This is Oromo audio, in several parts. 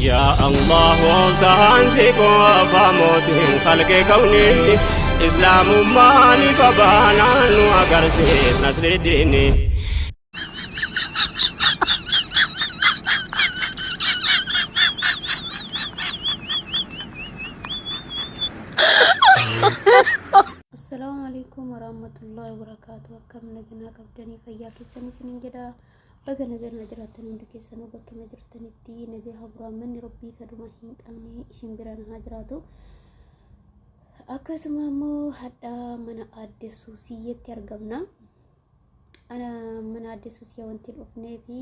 yaa allah oltahaan si qofa mootiin kalqe kawni islaamummaan ifa baanaan nu agarsiis nasriddiini Assalamu alaikum warahmatullahi wabarakatuh. Akkam nagaa qabdanii fayyaa keessanii isiniin jedha. Baga nagaan na jiraattan hundi keessanuu bakkuma jirtanitti nagaa hafuuraan manni rabbii kadhuma hin qabne isin biraan haa jiraatu. Akkasuma immoo hadha mana aadde Suusiyyeetti argamna. Ana mana aadde Suusiyyee wanti dhufnee fi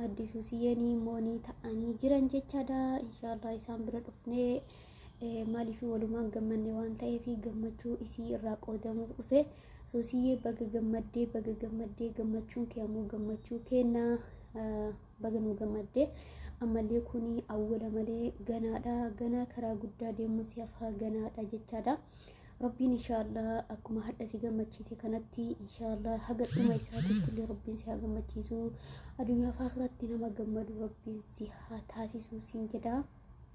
aadde Suusiyyeen moonii ta'anii jiran jechaadha. Inshaallah isaan bira dhufnee. maaliif walumaan gammanne waan ta'eef gammachuu isii irraa qoodamuuf dhufe suusiyyee baga gammaddee baga gammaddee gammachuun kee ammoo gammachuu kennaa baga nu gammaddee ammallee kun awwala malee ganaadha ganaa karaa guddaa deemuun si hafaa ganaadha jechaadha. Rabbiin inshaallah akkuma hadha si gammachiise kanatti inshaallah haga dhuma isaatiitti illee rabbiin si haa gammachiisu addunyaa fi akhiratti nama gammadu rabbiin si haa taasisu siin jedha.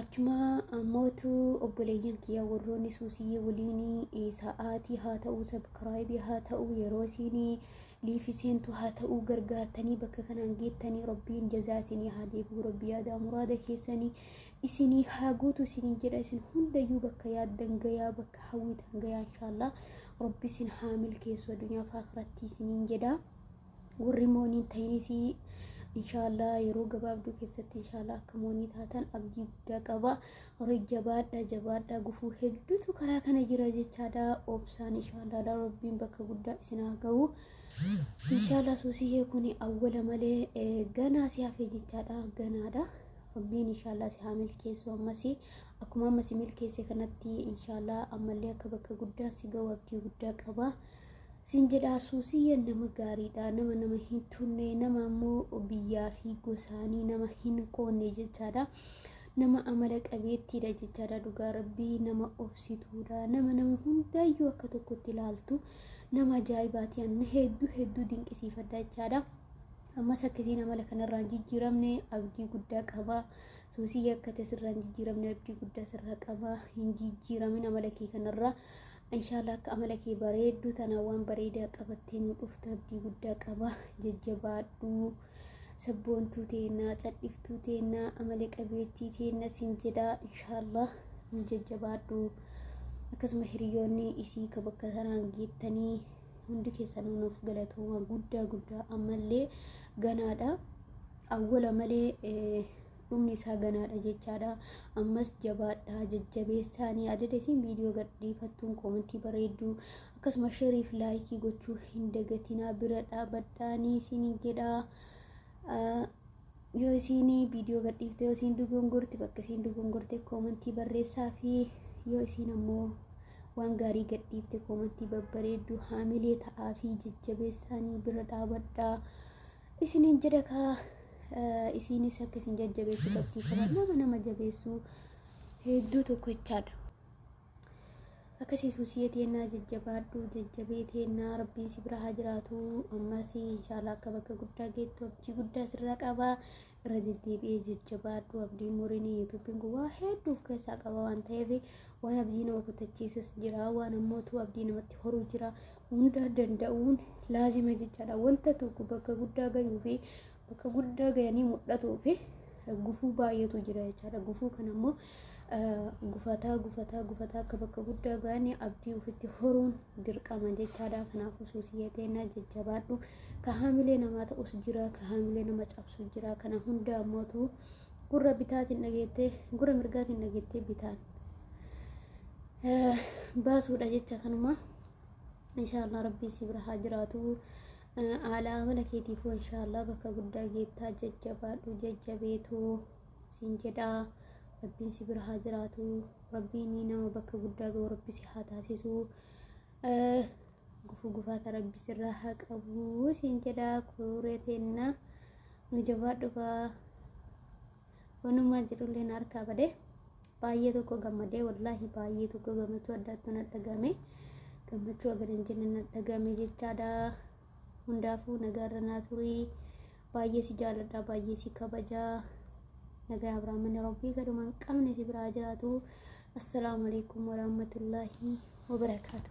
Achumaa ammootu obboleeyyan kiyya warroonni suusii waliinii sa'aatii haa ta'uu sabkiraayibii haa ta'uu yeroo isiinii liifi seentu haa ta'uu gargaartanii bakka kanaan geettanii rabbiin jazaa isinii haa deebi'u rabbii yaadaa muraada keessanii isinii haa guutu isinii jedha isin hundayyuu bakka yaaddan gayaa bakka hawwitan gayaa inshaallah rabbi isin haa milkeessu addunyaa fi akhiratti isiniin jedha. warri moonii hin ta'inis inshaallah yeroo gabaabduu keessatti inshaallah akka moonii taatan abdii guddaa qaba horii jabaadha jabaadha gufuu hedduutu karaa kana jira jechaadha obsaan inshaallah rabbiin bakka guddaa isin haa ga'u inshaallah suusiyee kun awwala malee eh, ganaa si hafe jechaadha ganaadha rabbiin inshaallah si haa milkeessu ammas akkuma amma si milkeesse kanatti inshaallah ammallee akka bakka guddaa si ga'u abdii guddaa qaba. Siin jedhaa suusiyyeen nama gaariidha nama nama hin tunne nama ammoo biyyaa fi gosaanii nama hin qoonne jechaadha. Nama amala qabeettiidha jechaadha dhugaa rabbii nama obsituudha nama nama hundaayyuu akka tokkotti ilaaltu nama ajaa'ibaati anna hedduu hedduu dinqisiifadha jechaadha. Ammas akkasiin amala kanarraan jijjiiramne abdii guddaa qaba. Suusiyya akka tasirraan jijjiiramne abdii guddaa sirraa qaba. Hin jijjiiramin amala kee kanarraa. Inshaallaa akka amala kee bareedduu tanaa waan bareedaa qabattee nu dhuftu abdii guddaa qaba jajjabaadhuu sabboontuu teennaa cadhiftuu teennaa amala qabeettii teenna sin jedhaa inshaallaa nu jajjabaadhuu akkasuma hiriyoonni isii ka bakka sanaan geettanii hundi keessanuu nuuf galatooma guddaa guddaa ammallee ganaadha awwala malee dhumni isaa ganaadha jechaadha. Ammas jabaadhaa jajjabeessaanii adada isin viidiyoo gadhiifattuun koomentii bareedduu akkasuma sheerii fi laayikii gochuu hin dagatinaa bira dhaabadhaanii isin jedhaa. Yoo isin viidiyoo gadhiifte yoo isin dogongorte bakka isin dogongorte koomentii barreessaa fi yoo isin ammoo waan gaarii gadhiifte koomentii babbareedduu haamilee ta'aa fi jajjabeessaanii bira dhaabadhaa. isiniin jedha kaa isiinis akka isin jajjabeessu qabdii kana nama nama jabeessuu hedduu tokko jechaadha. Akkasii suusiyee teennaa jajjabaadhu jajjabee teennaa rabbiin si bira haa jiraatu ammas inshaallah akka bakka guddaa geettu abdii guddaa sirra qaba irra deddeebi'ee jajjabaadhu abdii muriin yuutuubiin kun waa hedduu of keessaa qaba waan ta'eef waan abdii nama kutachiisus jira waan ammoo tu abdii namatti horuu jira hundaa danda'uun laazima jechaadha wanta tokko bakka guddaa gayuu fi bakka guddaa gayanii mul'atuu fi gufuu baay'eetu jira jechaadha gufuu kan ammoo gufataa gufataa gufataa akka bakka guddaa ga'anii abdii ofitti horuun dirqama jechaadha kanaafuu suusiyee teennaa jajjabaadhu ka haamilee namaa ta'us jira ka haamilee nama cabsu jira kana hunda ammootu gurra bitaatiin dhageettee gurra mirgaatiin dhageettee bitaan baasuudha jecha kanuma inshaallah rabbii si bira haa jiraatu haala amala keetiifuu inshaallah bakka guddaa geettaa jajjabaadhu jajjabeetuu siin jedhaa rabbiin si bira haa jiraatu rabbiin nama bakka guddaa ga'u rabbi si haa taasisu gufuu gufaata rabbi sirraa haa qabu siin jedhaa kuuree teenna nu jabaa dhufaa wanumaa jedhullee na harkaa badee baay'ee tokko gammadee wallaahi baay'ee tokko gammachuu addaatti na dhagame gammachuu agar hin jenne na dhagame jechaadha. hundaafuu nagaarra naa turii baay'ee si jaalladha baay'ee si kabaja nagaa abraaman rabbii gadumaan qabne si biraa jiraatu assalaamu alaikum warahmatullaahi wabarakaatu